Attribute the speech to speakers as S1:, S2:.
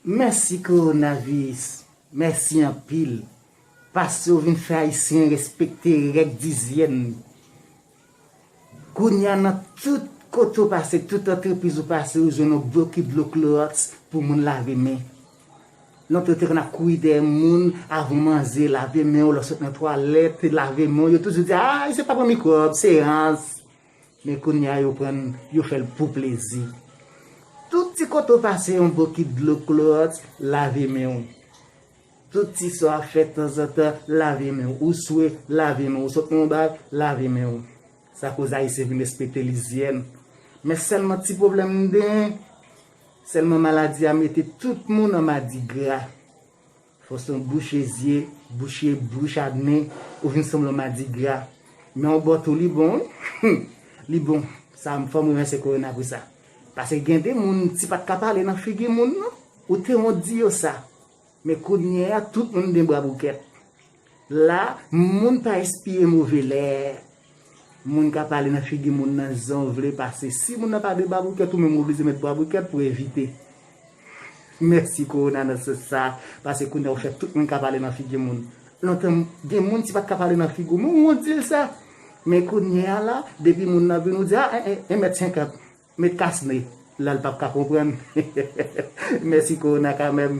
S1: Mèsi kowonaviris mèsi anpil paske ou vin fè ayisyen respekte règ dizyèn kounya nan tout kote ou pase tout antrepriz ou pase ou jwenn yon boky dlo kloròks pou moun lave men lontan yo te konn ap kouri dèyè moun avan ou manje lave menw lè ou sot nan twalèt lave menw yo toujou di aayy se pa pou mikwòb se rans. Men kounya yo prann yo fèl pou plezi. Tout ti kote w pase yon bokit dlo klowòts lave men w. Tout ti sa w ap fè tanzantan lave men w. Ou swe lave men w. Ou sot nan yon bar lave men w. Sa koz ayisyen vin respekte lizyèn. Men sèlman ti pwoblèm m genyen, sèlman maladi a mete tout moun an madigra. Foston bouche zye, bouche bouch Adnè, ou vin sanble yon madigra. Men yon bò tou li bon wi. Li bon. Sa m fò m renvèse korona pou sa. Pase gen de moun ti pat ka pale nan figi moun non. Ou te wont di yo sa. Men kounyeya tout moun gen bra boukèt. La moun pa espire move lè. Moun ka pale nan figi moun nan jan w vle pase. Si moun nan pa de baboukèt ou menm ou oblije met baboukèt pou evite. Mèsi Corona nan sans sa a pase kounye a ou fè tout moun ka pale nan figi moun. Lontan gen moun si pat ka pale nan figi w men ou wont di l sa. Men kounye a la depi moun nan vini ou di a 1 mèt 50 met kas ne la l pap ka konprann. Mèsi Corona kanmèm.